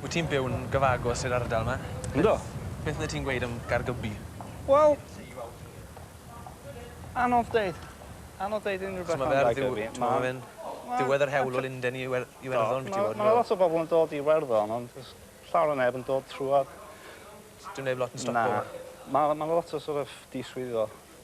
Wyt ti'n byw'n gyfagos i'r ardal 'ma? Yndw. Beth fyddet ti'n gweud am Gaergybi? Wel anodd deud. Anodd deud unryw beth am Gaergybi. T'mo' ma' fe'n diwedd yr hewl o Lunden i Iwer- Iwerddon biti bod. Ma' 'na lot o bobol yn dod i Iwerddon ond do's llawer o neb yn dod trwodd. Dyw neb lot yn stopo 'ma. Na. Ma' ma' 'na lot o sor' of diswyddo.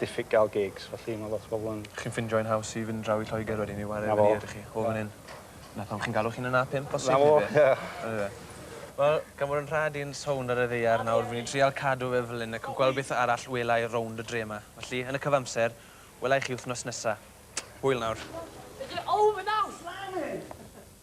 diffyg gael gigs, felly mae lot o bobl yn... Chi'n ffindio hi'n haws i fynd draw i Lloegr wedyn i ware efo ni ydych chi, o fan hyn? 'Na pam chi'n galw chi'n yn A5 bosib neu be? 'Na fo, ie. Yndyfe. Wel, gan fod yn rha di'n sownd ar y ddaear nawr, fi'n trial cadw fe fel hyn ac gweld beth arall wela i rownd y dre 'ma. Felly, yn y cyfamser, wela i chi wthnos nesa. Hwyl nawr.